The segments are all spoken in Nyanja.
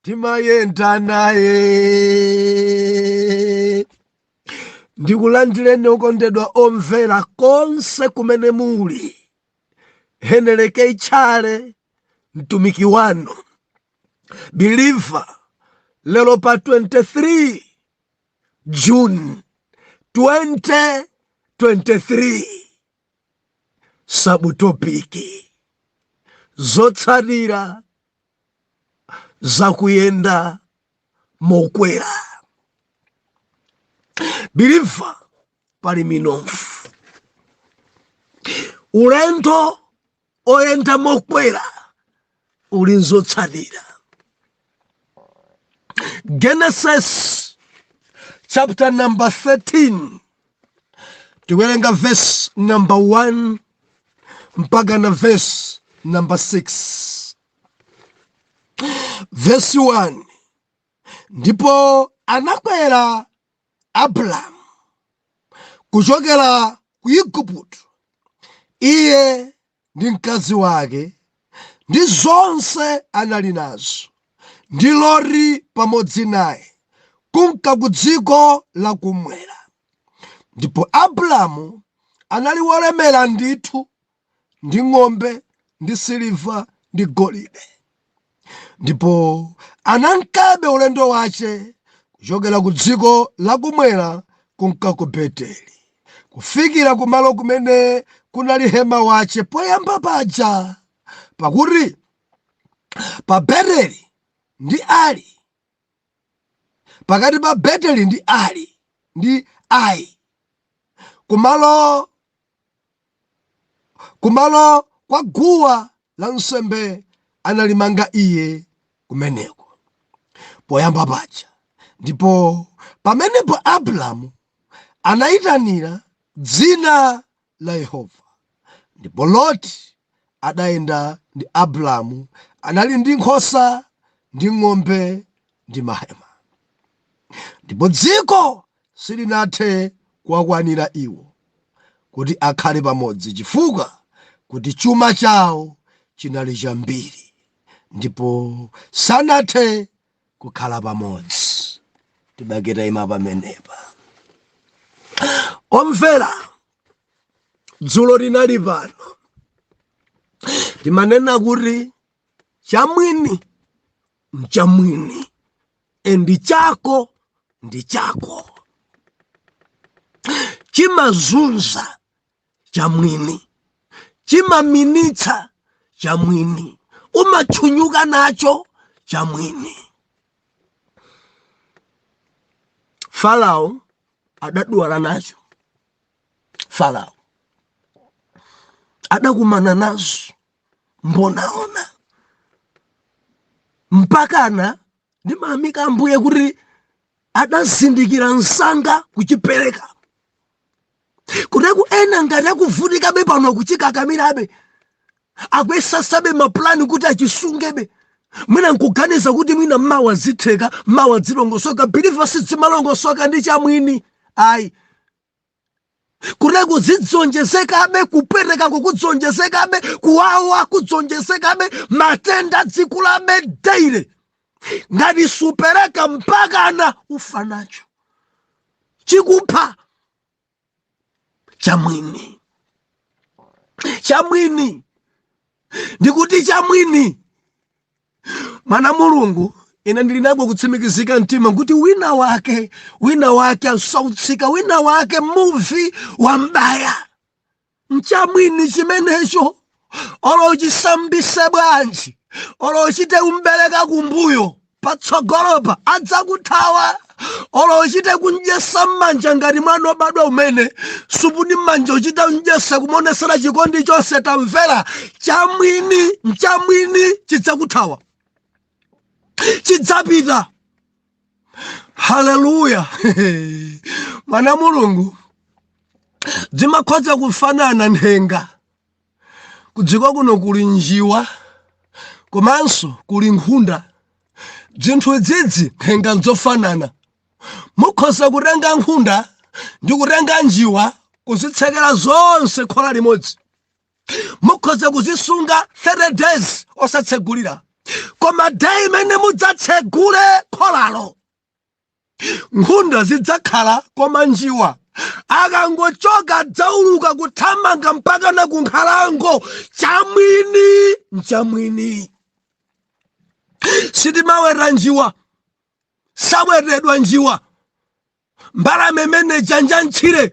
ndimayenda naye ndikulandireni okondedwa omvera konse kumene muli heneleke itchale mtumiki wanu biliva lero pa 23 juni 2023 sabutopiki zotsatira zakuyenda mokwera biliva pali minofu ulendo oyenda mokwera uli nzotsatira genesis chapter number 13 tiwerenga verse number 1 mpaka na vesi namba 6 vesi 1 ndipo anakwera abrahamu kuchokera ku igupto iye ndi mkazi wake ndi zonse anali nazo ndi loti pamodzi naye kumka ku dziko lakumwera Ndipo Abramu anali wolemera ndithu ndi ng'ombe ndi siliva ndi golide ndipo anankabe ulendo wace kuchokera ku dziko lakumwera kunka ku beteli kufikira kumalo kumene kunali hema wace poyamba paja pakuti pa beteli ndi ali pakati pa beteli ndi ali ndi ai kumalo kumalo kwa guwa la nsembe analimanga iye kumeneko poyamba paja ndipo pamenepo abrahamu anayitanira dzina la Yehova. Ndipo Loti adayenda ndi Abramu, anali ndi nkhosa ndi ng'ombe ndi mahema. Ndipo dziko silinathe kuwakwanira iwo kuti akhale pamodzi chifukwa kuti chuma chawo chinali chambiri ndipo sanathe kukhala pamodzi tibake tayima pamenepa omvera dzulo linali pano timanena kuti chamwini mchamwini endi chako ndi chako chimazunza chamwini chimaminyitsa chamwini umachunyuka nacho chamwini farao adadwala nacho farao adakumana nazo mbonaona mpakana ndimayamika ambuye kuti adazindikira msanga kuchipereka kuteko ena ngati akuvutikabe pano kuchikakamirabe akuyesasabe mapulani kuti achisungebe mwina nkuganiza kuti mwina mawa zitheka mawa dzilongosoka believer sidzimalongosoka ndi chamwini ayi kuteko zidzionjezekabe kupereka kukudzionjezekabe kuwawa kudzionjezekabe matenda dzikulabe daily ngati supereka mpakana ufa nacho chikupha chamwini chamwini ndikuti chamwini mwana mulungu ine ndili nako kutsimikizika mtima kuti wina wake wina wake asautsika wina wake muvi wambwaya nchamwini chimenecho olo uchisambise bwanji olo uchite kumbereka kumbuyo patsogolopa adzakuthawa olo uchite kumdyesa mmanja ngati mwana obadwa kumene supuni mmanja kuchita kumdyesa kumaonesera chikondi chonse tamvera chamwini nchamwini chidzakuthawa chidzapita haleluya mwana mulungu dzimakhoza kufanana nthenga kudziko kuno kuli njiwa komanso kuli nkhunda dzinthu idzidzi nthenga nzofanana mukhoza kutenga nkhunda ndi kutenga njiwa kuzitsekera zonse khola limodzi mukhoza kuzisunga 30 days osatsegulira koma day imene mudzatsegule kholalo nkhunda zidzakhala koma njiwa akangochoka adzauluka kuthamanga mpakana kunkhalango chamwini nchamwini sitimaweta njiwa sawetedwa njiwa mbalame imene ija njamtchire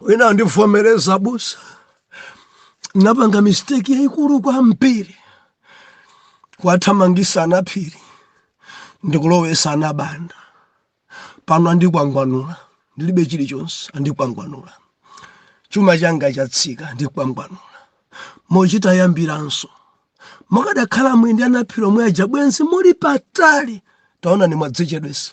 wina andivomereza abusa napanga mistake yaikulu kwambiri kuwathamangisa anaphiri ndikulowesa anabanda pano andikwangwanula ndilibe chilichonse andikwangwanula chuma changa chatsika andikwangwanula mukuchita kuyambiranso mukadakhala muli ndi anaphiri omwe aja bwenzi muli patali taonani mwadzichedwesa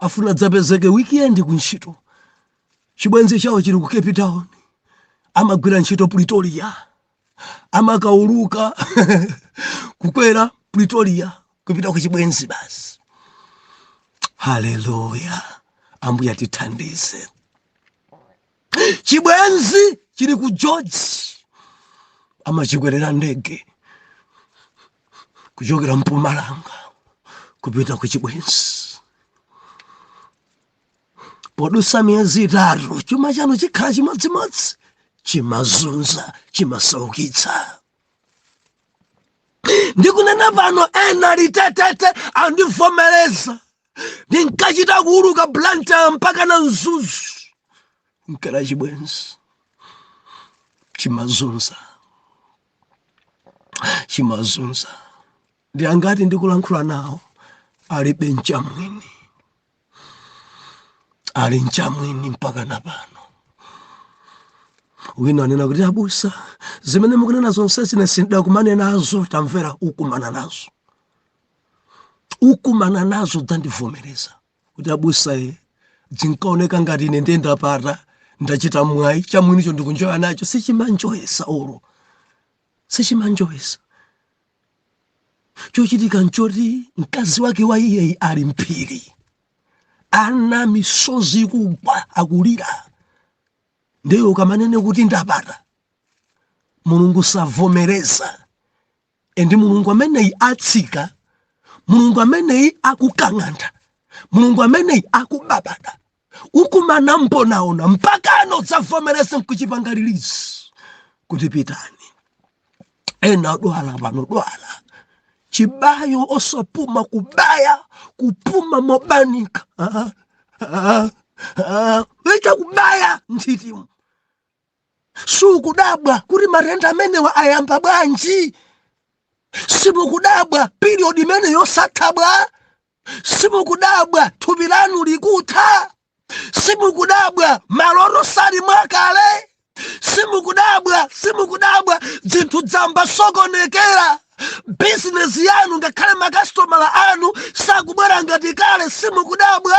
afuna adzapezeke weekend ku ntchito chibwenzi chawo chili ku cape town amagwira ntchito pretoria amakauluka kukwera pretoria kupita ku chibwenzi basi haleluya ambuye tithandize chibwenzi chili ku george amachikwerera ndege kuchokera mpumalanga kupita ku chibwenzi podusa miyezi itatu chuma chanu chikhala chimodzimodzi chimazunza chimasaukitsa ndikunena pano ena litetete andivomereza ndinkachita kuuluka blantyre mpaka na mzuzu nkala chibwenzi chimazunza chimazunza ndi angati ndikulankhula nawo alibe mchamwini ali mchamwini mpaka na pano wina anena kuti abusa zimene mukunena zonsezi ine sindidakumane nazo tamvera ukumana nazo ukumana nazo udzandivomereza kuti abusa zinkaoneka ngati ine ndiye ndapata ndachita mwayi chamwinicho ndikunjoya nacho sichimanjoyesa olo sichimanjoyesa chochitika nchoti mkazi wake wa iyeyi ali mphiri ana misozi ikugwa akulira ndiye ukamanena kuti ndapata mulungu savomereza ende mulungu ameneyi atsika mulungu ameneyi akukang'antha mulungu ameneyi akubabada ukumana mbonaona mpakana udzavomereza nkuchipanga release kuti pitani ena adwala pano adwala chibayo osapuma kubaya kupuma mobanika Ah, ah, ah. weta kubaya nthitimu sukudabwa kuti matenda amenewa ayamba bwanji simukudabwa period imene yosatha bwa simukudabwa thupi lanu likutha simukudabwa maloto sali mwakale simukudabwa simukudabwa zinthu zayamba sokonekera bizinesi yanu ngakhale makasitomala anu sakubwera ngati kale simukudabwa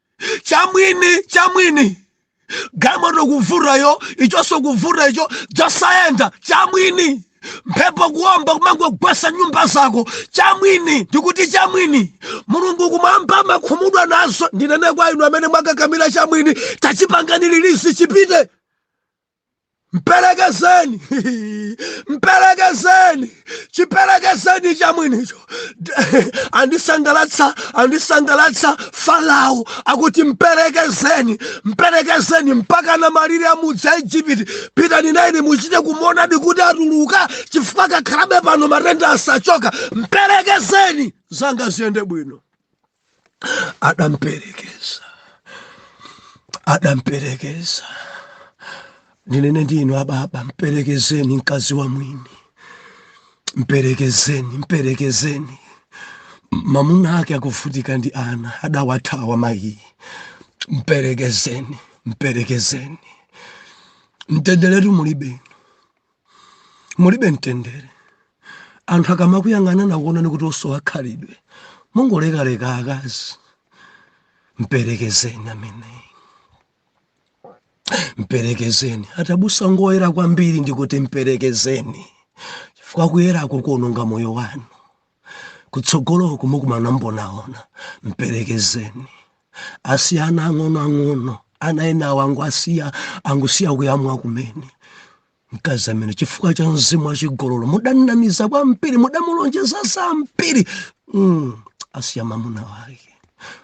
chamwini chamwini galimoto kuvuta iyo ichonso kuvuta icho zosayenda chamwini mphepo kuomba kumangogwesa nyumba zako chamwini ndikuti chamwini mulungu kumwamba amakhumudwa nazo ndinene kwa inu amene mwakakamira chamwini tachipangani release chipite mperekezeni mperekezeni chiperekezeni cha mwinicho andisangalatsa andisangalatsa farao akuti mperekezeni mperekezeni mpaka na malire amudzi a ejipiti pitani naine muchite kumonadi kuti atuluka chifukwa akakhalabe pano matenda asachoka mperekezeni zanga ziyende bwino adamperekeza adamperekeza ndinene ndi inu ababa mperekezeni mkazi wa mwini mperekezeni mperekezeni mamuna ake akuvutika ndi ana adawathawa mayi mperekezeni mperekezeni mtenderetu mulibe mulibe mtendere anthu akamakuyang'ana nakuonani kuti osowa khalidwe mungoleka-leka akazi mperekezeni ameneyi mperekezeni atabusa ngoyera kwambiri ndikuti mperekezeni chifukwa kuyerako kuononga moyo wanu kutsogoloko mukumana mbonaona mperekezeni asiya ana ang'onoang'ono ana enawo angusiya angusiya kuyamwa kumene mkazi amene chifukwa cha mzimu wa chigololo mudamnamiza kwambiri mudamulonjeza zambiri mm, asiya mamuna wake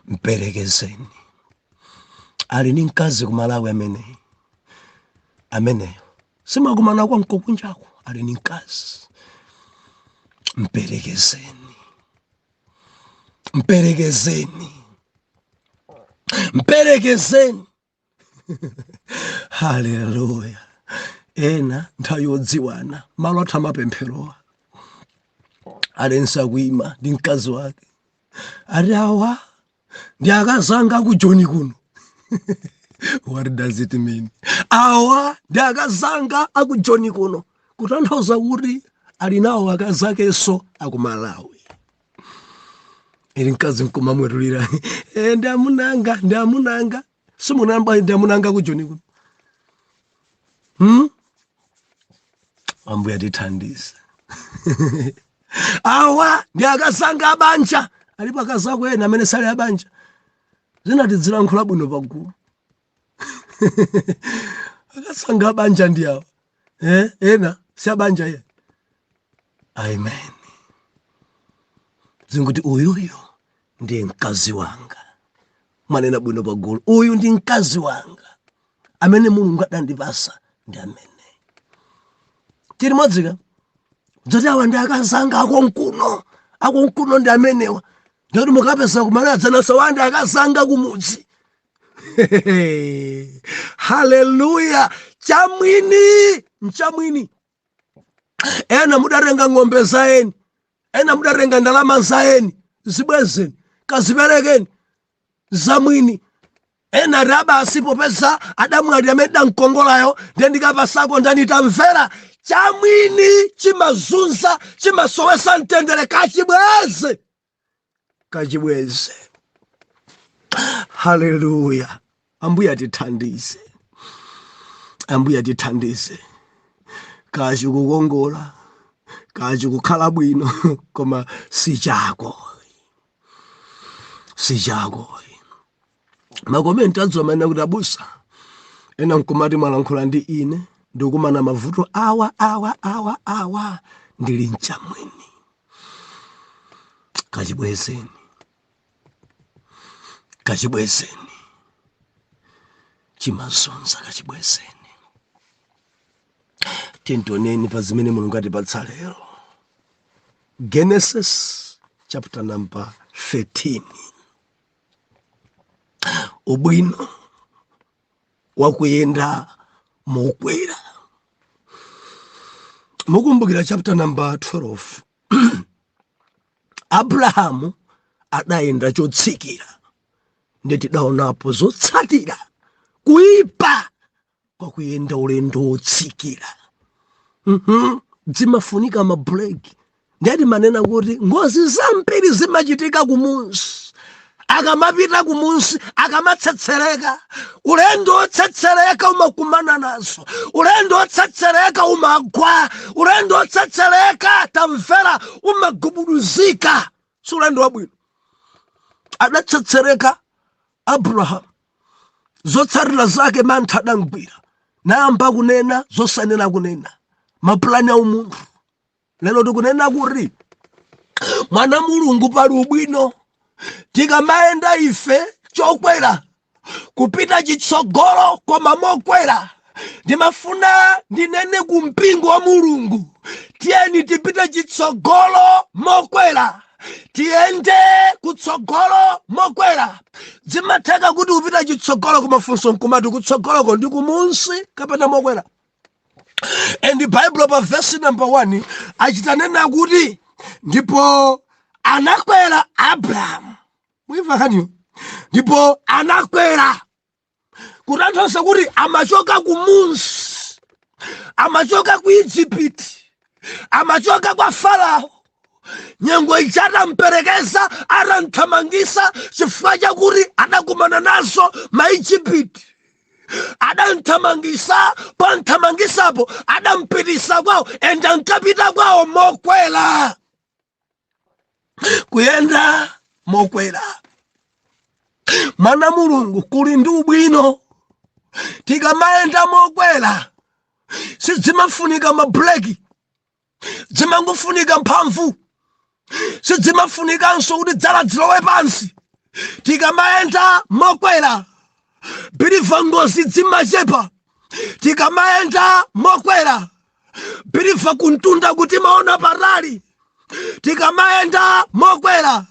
mperekezeni ali ni mkazi ku Malawi ameneyi ameneyo sumakumana kwa nkokunjako ali ni mkazi mperekezeni mperekezeni mperekezeni haleluya ena nthawi yodziwana malo athu amapempherowa alengeza kuima ndi mkazi wake ati awa ndi akazi anga aku joni kuno what does it mean awa ndi akazi anga aku joni kuno kutanthauza kuti ali nawo akazi akenso aku Malawi uli mkazi nkumamwetulira e, ndi amunanga ndi amunanga simunayamba ndi amuna anga ku joni kuno hmm? ambuye atithandize awa ndi akazanga abanja alipo akazako ena amene sali abanja zina tidzilankhula bwino pagulu akazanga abanja ndi awa eh? ena si abanja ye amen zingoti uyuyo ndi mkazi wanga mwanena bwino pagulu uyu ndi mkazi wanga amene mulungu adandipasa ndi ameneyi chili modzi ka zoti awa ndi akazi anga akonkuno akonkuno ndi amenewa ndikuti mukapeza kumene adzanatsa awa ndi akazi anga kumudzi haleluya chamwini mchamwini ena mudatenga ng'ombe za eni ena mudatenga ndalama za eni zibwezeni kaziperekeni za mwini ena ati aa basi popeza adamwalira amene ndidamkongolayo ndiye ndikapatsako ndani tamvera chamwini chimazunza chimasowesa mtendere kachibweze kachibweze haleluya ambuye atithandize ambuye atithandize kaya chikukongola kaya chikukhala bwino koma si chako si chako makomenti adzulo amanena kuti abusa ena nkumati mwalankhula ndi ine ndikumana mavuto awa awa awa awa ndili mchamwini kachibwezeni kachibwezeni chimazunza kachibwezeni tiyeni tioneni pa zimene mulungu atipatsa lero genesis chapter number 13 ubwino wakuyenda mokwera mukumbukira chapter number 12 abrahamu adayenda chotsikira nde tidaonapo zotsatira kuipa kwa kuyenda ulendo wotsikira zimafunika mabuleki nde timanena kuti ngozi zambiri zimachitika kumunsi akamapita kumunsi akamatsetsereka ulendo wotsetsereka umakumana nazo ulendo wotsetsereka umagwa ulendo wotsetsereka tamvera umagubuduzika si ulendo wabwino adatsetsereka Abrahamu zotsatira zake mantha adamgwira nayamba kunena zosanena kunena mapulani a umunthu lero tikunena kuti mwana wa mulungu pali ubwino tikamayenda ife chokwera kupita chitsogolo koma mokwera ndimafuna ndinene ku mpingo wa mulungu tiyeni tipite chitsogolo mokwera tiyende kutsogolo mokwera zimatheka kuti kupita chitsogolo koma funso nkumati kutsogoloko ndi kumunsi kapena mokwera and baibulo pa vesi number 1 achitanena kuti ndipo anakwera abrahamu mwaimva kaniyo ndipo anakwera kutanthauza kuti amachoka ku munsi amachoka ku egypt amachoka kwa farao nyengo ija atamperekeza atamthamangisa chifukwa chakuti adakumana nazo maijipiti adamthamangisa pamthamangisapo adampitisa kwawo ende ankapita kwawo mokwera kuyenda mokwera mwana mulungu kuli ndi ubwino tikamayenda mokwera sidzimafunika mabreki dzimangofunika mphamvu sidzimafunikanso kuti dzala dzilowe pansi tikamayenda mokwera biliva ngozi dzimachepa tikamayenda mokwera biliva kumtunda ku timaona patali tikamayenda mokwera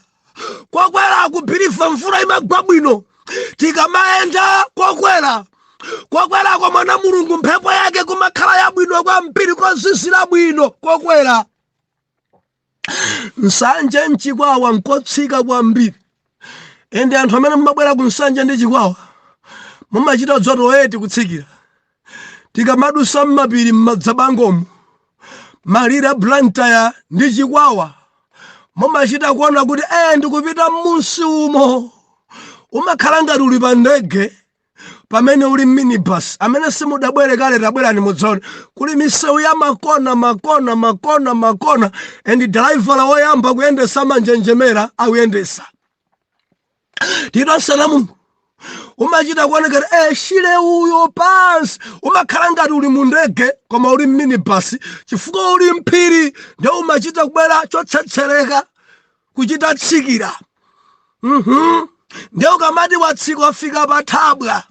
kokwerako biliva mvula imagwa bwino tikamayenda kokwera kokwerako mwana mulungu mphepo yake kumakhala yabwino kwambiri kozizira bwino kokwera nsanje nchikwawa nkotsika kwambiri ende anthu amene mumabwera ku nsanje ndi chikwawa mumachita dzotoweti kutsikira tikamadusa mmapiri mmadzabangomu malire a blantyre ndi chikwawa mumachita kuona kuti eh ndikupita mmunsi umo umakhala ngati uli pa ndege pamene uli mminibus amene simudabwere kale tabwerani mudzaone kuli misewu ya makona makona makona makona and driver woyamba kuyendesa amanjenjemera akuyendesa chifukwa mmunsimu umachita kuonekera shire uyo pansi umakhala ngati uli mu ndege koma uli mminibasi chifukwa uli mphiri nde umachita kubwera chotsetsereka kuchita tsikira mhm nde ukamati watsika wafika pa thabwa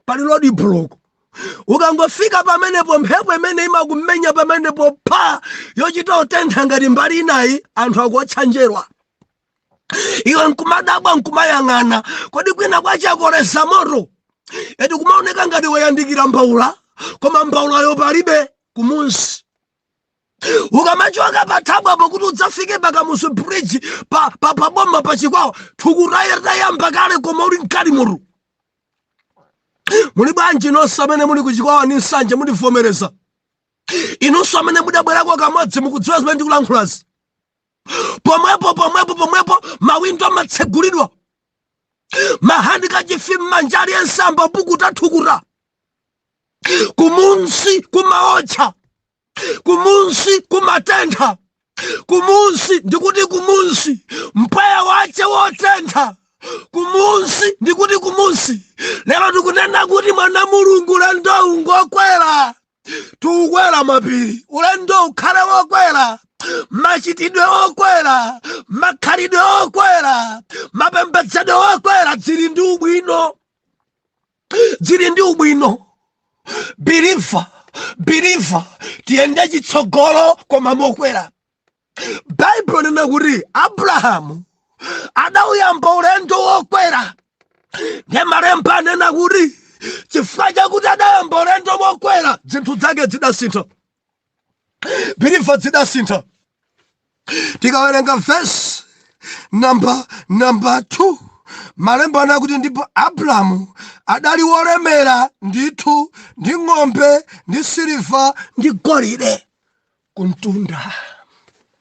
pali rodi buloko ukangofika pamenepo mphepo imene imakumenya pamenepo pha yochita utentha ngati mbali inayi anthu akuotcha njerwa iwe nkumadabwa nkumayang'ana kodi kwina kwa chakoleza moto eti kumaoneka ngati wayandikira mbaula koma mbaulayo palibe kumunsi ukamachoka pathabwapo kuti udzafike pa Kamuzu bridge pa, pa, pa boma pa chikwawa thukuta layamba kale koma uli mkatimutu muli bwanji nonse amene muli kuchikwawa ndi Nsanje mundivomereza inunso amene mudabwerako kamodzi mukudziwa zimene ndikulankhulazi pomwepo pomwepo pomwepo mawindo amatsegulidwa mahandikachifi mmanja aliyense amapukuta thukuta kumunsi kumawotcha kumunsi kumatentha kumunsi ndikuti kumunsi mpweya wache wotentha kumunsi ndikuti kumunsi lero tikunena kuti mwana mulungu ulendowu ngokwera tikukwera mapiri ulendo ukhale wokwera machitidwe okwera makhalidwe okwera mapembedzedwe okwera dzili ndi ubwino zili ndi ubwino biliva biliva tiyende chitsogolo koma mokwera baibulo nena kuti abrahamu adauyamba ulendo wokwera ndi malemba anena kuti chifukwa chakuti adayamba ulendo wokwera zinthu zake zidasintha believer dzidasintha tikawerenga verse number number 2 malemba anena kuti ndipo abrahamu adali wolemera ndithu ndi ng'ombe ndi siliva ndi golide kumtunda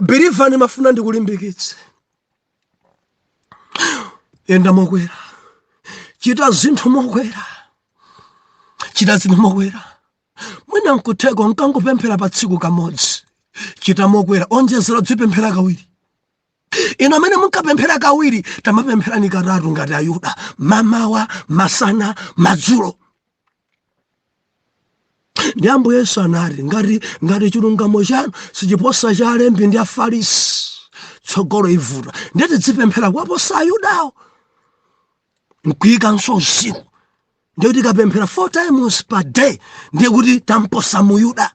believer ndimafuna ndikulimbikitse yenda mokwera chita zinthu mokwera chita zinthu mokwera mwina nkutheka unkangopemphera pa tsiku kamodzi chita mokwera onjezera dzipemphera kawiri inu amene munkapemphera kawiri tamapempherani katatu ngati ayuda mamawa masana madzulo ndi ambuye yesu anati ngati ngati chilungamo chanu sichiposa cha alembi ndi afarisi tsogolo ivuta ndiye tidzipemphera kuwaposa ayudawo nkuikamonso usiku ndiye kuti tikapemphera four times per day ndiye kuti tamposa muyuda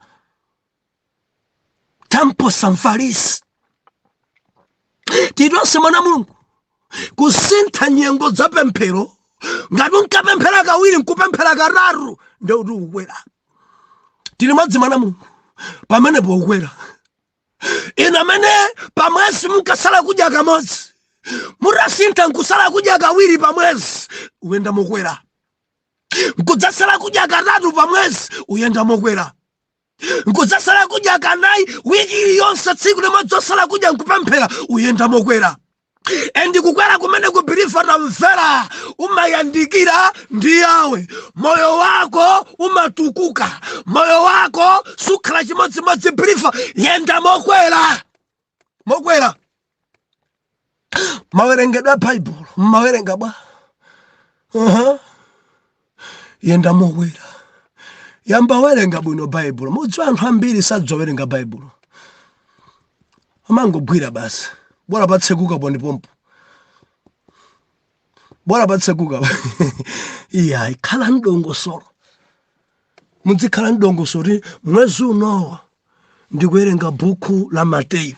tamposa mfarisi tiyitonse mwana mulungu kusintha nyengo za pemphero ngati unkapemphera kawiri nkupemphera katatu nde kuti ukwera tili madzi mwana mulungu pamenepo ukwera inu amene pamwezi munkasala kudya kamodzi mutasintha nkusala kudya kawiri pamwezi uyenda mokwera nkudzasala kudya katatu pamwezi uyenda mokwera mkudzasala kudya kanayi wiki iliyonse tsiku limodzi osala kudya nkupemphera uyenda mokwera endi kukwera kumene believer tamvera umayandikira ndi yawe moyo wako umatukuka moyo wako sukhala chimodzimodzi believer yenda mokwera mokwera mawerengedwe a baibulo mmawerenga bwa uh-huh. yenda mokwera yamba werenga bwino baibulo mudziwa anthu ambiri sadziwa werenga baibulo amangogwira basi bora patsekuka pondipompo bora patsekuka iyayi khala mdongosolo mudzikhala mdongosolo kuti mwezi uno ndikuwerenga buku la mateyu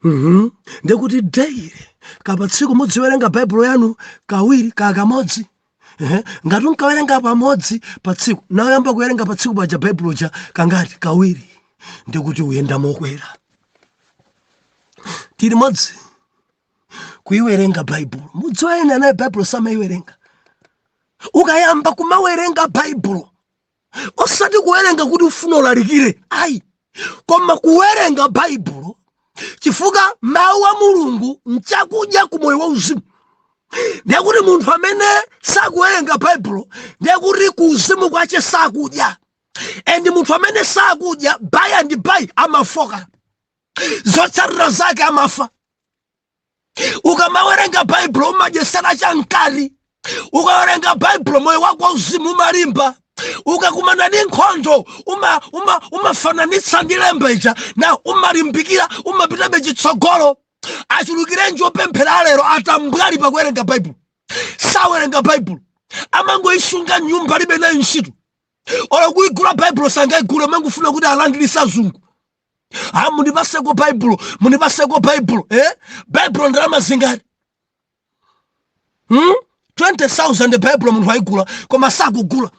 mhm. ndekuti daily kapa tsiku mudziwerenga baibulo yanu kawiri kaya kamodzi ngati unkawerenga pamodzi pa tsiku nawuyamba kuwerenga pa tsiku paja baibulo ja kangati kawiri ndikuti uyenda mokwera tili limodzi kuiwerenga baibulo mudziwa ena nayo baibulo samaiwerenga ukayamba kumawerenga baibulo osati kuwerenga kuti ufuna ulalikire ayi koma kuwerenga baibulo chifukwa mawu a mulungu nchakudya ku moyo wauzimu ndiye kuti munthu amene sakuwerenga baibulo ndiye kuti ku uzimu kwache sakudya and munthu amene sakudya by and by amafoka zotsatira zake amafa ukamawerenga baibulo umadyesera cha mkati ukawerenga baibulo moyo wako wauzimu umalimba ukakumana ndi nkhondo umafananitsa ndi lemba ija na umalimbikira umapitabe chitsogolo achulukirenji opemphera alero atambwali pakuwerenga baibulo sawerenga baibulo amangoisunga mnyumba alibe nayo ntchito olo kuigula baibulo sangayigule amangofuna kuti alandirise kwa azungu ah, mundipaseko baibulo mundipaseko baibulo eh? baibulo ndalama zingati hmm? 20000 baibulo munthu ayigula koma sakugula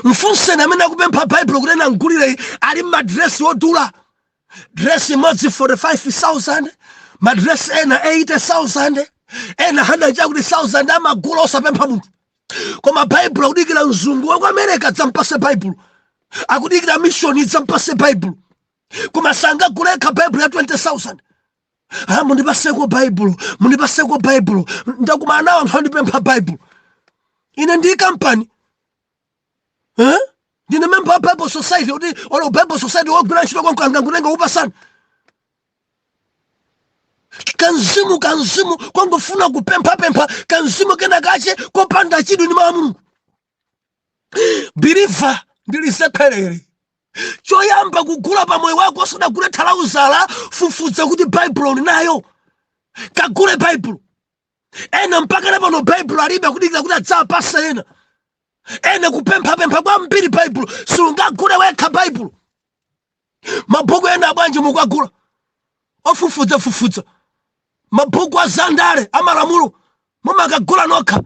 mfunseni amene akupempha baibulo kuti ena mgulire ali mmadresi odula dresi imodzi 45000 madresi ena 80000 ena 100 chakuti 1000 amagula osapempha munthu koma baibulo akudikira mzungu wa ku america adzampase baibulo akudikira mishoni idzampase baibulo koma sangagule yekha baibulo ya 20000 ha mundipaseko baibulo mundipaseko baibulo ndakumana nawo anthu andipempha baibulo ine ndi kampani eh? ndine member wa bible society kuti olo bible society wogwira ntchito konko angangotenga nkupasana kamzimu kamzimu kongofuna kupemphapempha kamzimu kena kache kopanda chidwi ndi mawu a mulungu believer ndilisekherere choyamba kugula pa moyo wako usadagule thalauza fufuza kuti baibulo ndinayo kagule baibulo ena mpaka na pano baibulo alibe akudikira kuti adzawapasa ena ena kupemphapempha kwambiri baibulo sungagule wekha baibulo mabhuku ena bwanji mukuwagula ofufudzafufudza mabhuku a zandale amalamulo mumakagula nokha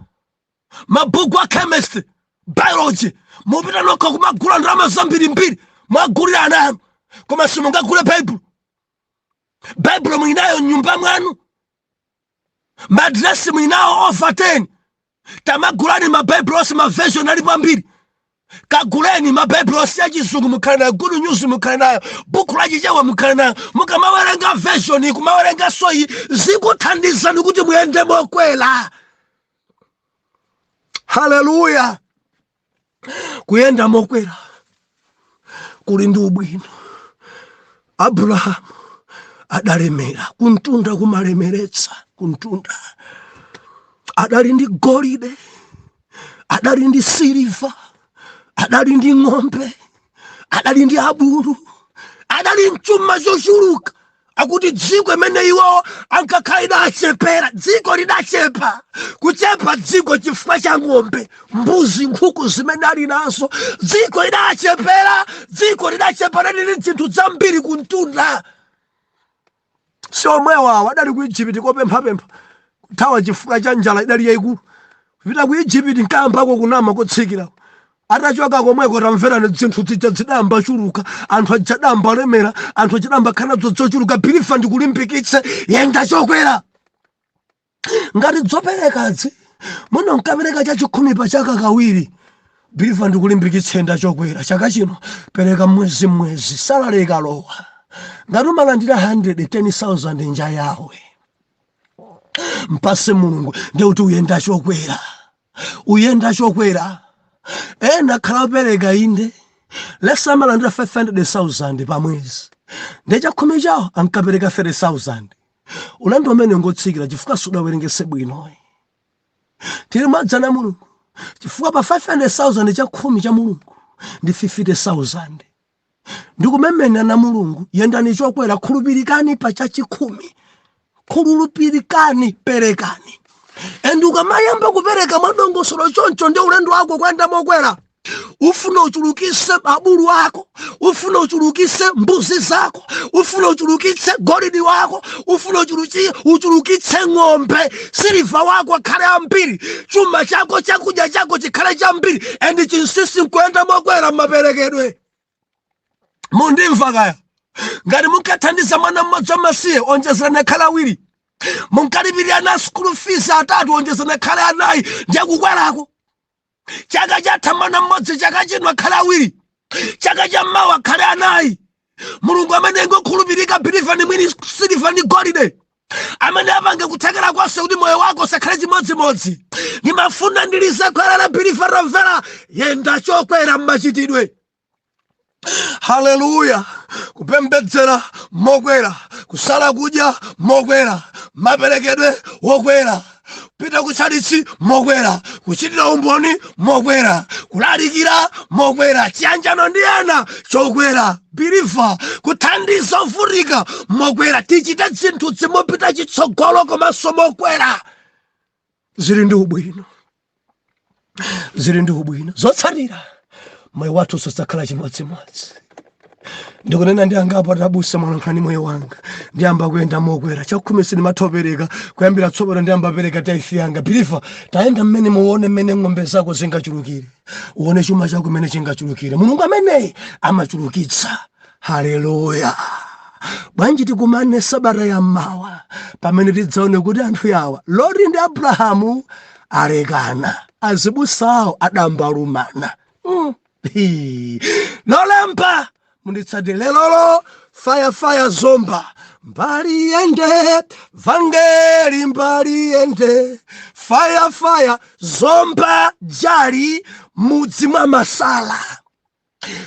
mabhuku a chemistry biology mupita nokha kumagula ndalama zambirimbiri mwagulira ana anu koma simungagule baibulo baibulo mulinayo m'nyumba mwanu madresi mulinawo over 10 tamagulani mabaibulo onse maversion alipo ambiri kaguleni mabaibulo onse ya chizungu mukhale nayo good news mukhale nayo buku la chichewa mukhale nayo mukamawerenga version kumawerenga soci zikuthandizani kuti muyende mokwera haleluya kuyenda mokwera kuli ndi ubwino abrahamu adalemera kumtunda kumalemeretsa kumtunda adali ndi golide adali ndi siliva adali ndi ng'ombe adali ndi abulu adali nchuma chochuluka akuti dziko imene iwo ankakhala idachepera dziko lidachepa kuchepa dziko chifukwa cha ng'ombe mbuzi nkhuku zimene ali nazo dziko lidachepera dziko lidachepa ndi zinthu zambiri kumtunda si omwewo awo adali ku ijipiti kopemphapempha kuthawa chifukwa cha njala idali yayikulu kupita ku ijipiti nkayambako kunama kotsikirako atachoka komweko tamverani zinthu zija zidayamba chuluka anthu aja adayamba lemera anthu aja adayamba khala nazo zochuluka believer ndikulimbikitse yenda chokwera ngati zoperekazi munonkapereka chachikhumi pa chaka kawiri believer ndikulimbikitse yenda chokwera chaka chino pereka mwezi mwezi salary ikalowa ngati umalandira 110000 nja yawe mpase mulungu ndekuti ukuyenda chokwera ukuyenda chokwera ena akhala akupereka inde let's say amalandira 500000 pa mwezi nde chakhumi chawo ankapereka 30000 ulendo umenewo ngotsikira chifukwa sudawerengese bwino ukulimbana ndi mulungu chifukwa pa 500000 chakhumi cha mulungu ndi 50000 ndikumemena na mulungu yendani chokwera khulupirikani pa chachikhumi khulupirikani perekani and ukamayamba kupereka mwadongosolo choncho ndi ulendo wako kuyenda mokwera ufuna uchulukise abulu ako ufuna uchulukise mbuzi zako ufuna uchulukitse golidi wako ufuna uchulukitse ng'ombe siliva wako akhale ambiri chuma chako chakudya chako chikhale chambiri and chinsisi nkuyenda mokwera mmaperekedwe mundimva kaya ngati munkathandiza mwana mmodzi wamasiye onjezerani akhale awiri munkalipirira ana school fees atatu onjezerani akhale anayi ndiye kukwerako chaka chatha mwana mmodzi chaka chino akhale awiri chaka cha mmawa akhale anayi mulungu amene ngokhulupirika biliva ndi mwini siliva ndi golide amene apange kuthekera konse kuti moyo wako usakhale chimodzimodzi ndimafuna ndilize khweru la biliva lomvera yenda chokwera mmachitidwe haleluya kupembedzera mokwera kusala kudya mokwera maperekedwe wokwera kupita kutchalitchi mokwera kuchitira umboni mokwera kulalikira mokwera chiyanjano ndi ena chokwera biliva kuthandiza ovutika mokwera tichite zinthu zomapita chitsogolo komanso mokwera zili ndi ubwino zili ndi ubwino zotsatira moyo wathu sudzakhala chimodzimodzi ndikunena ndi angapo atabutsa mwalankhani moyo wanga ndiyamba kuyenda mokwera chakhumi sindimatha kupereka kuyambira tsopano ndiyamba kupereka taifi yanga biliva tayenda mmene muone mmene ng'ombe zako zingachulukire uone chuma chako mmene chingachulukire mulungu ameneyi amachulukitsa haleluya bwanji tikumane sabata ya mmawa pamene tidzaone kuti anthu yawa loti ndi abrahamu alekana azibusawo adambalumana lolemba munditsate lelolo faya faya zomba mbali yende vangeli mbali yende faya faya zomba jali mudzi mwa masala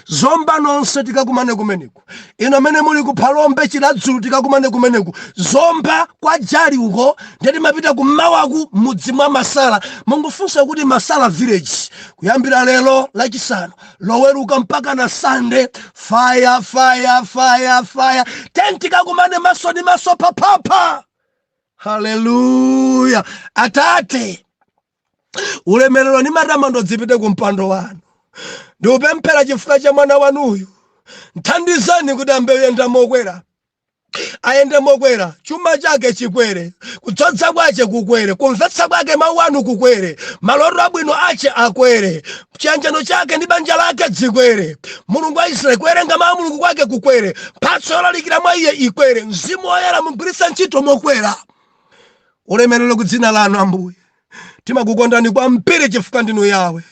zomba nonse tikakumane kumeneko inu amene muli ku phalombe chiradzulu tikakumane kumeneko zomba kwa jali uko nde timapita kummawaku mudzi mwa masala mungofunsa kuti masala village kuyambira lero lachisanu loweruka mpaka na sande faya faya faya faya ten tikakumane maso ndi maso papapa haleluya atate ulemerero ndi matamando dzipite ku mpando wanu ndikupemphera chifukwa cha mwana wanuyu mthandizeni kuti ayambe kuyenda mokwera ayende mokwera chuma chake chikwere kudzodza kwache kukwere kumvetsa kwake mawu anu kukwere maloto abwino ache akwere chiyanjano chake ndi banja lake chikwere mulungu wa israeli kuwerenga mawu a mulungu kwake kukwere mphatso yolalikira mwa iye ikwere mzimu woyera mugwiritse ntchito mokwera ulemerero ku dzina lanu ambuye timakukondani kwambiri chifukwa ndinu yawe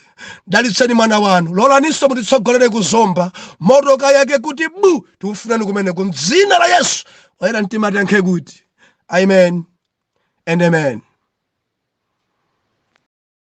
dalitseni mwana wanu lolaninso mutitsogolere ku zomba moto ukayake kuti bu tikufunani kumene ku dzina la yesu oyera mtima tiyankhe kuti amen and amen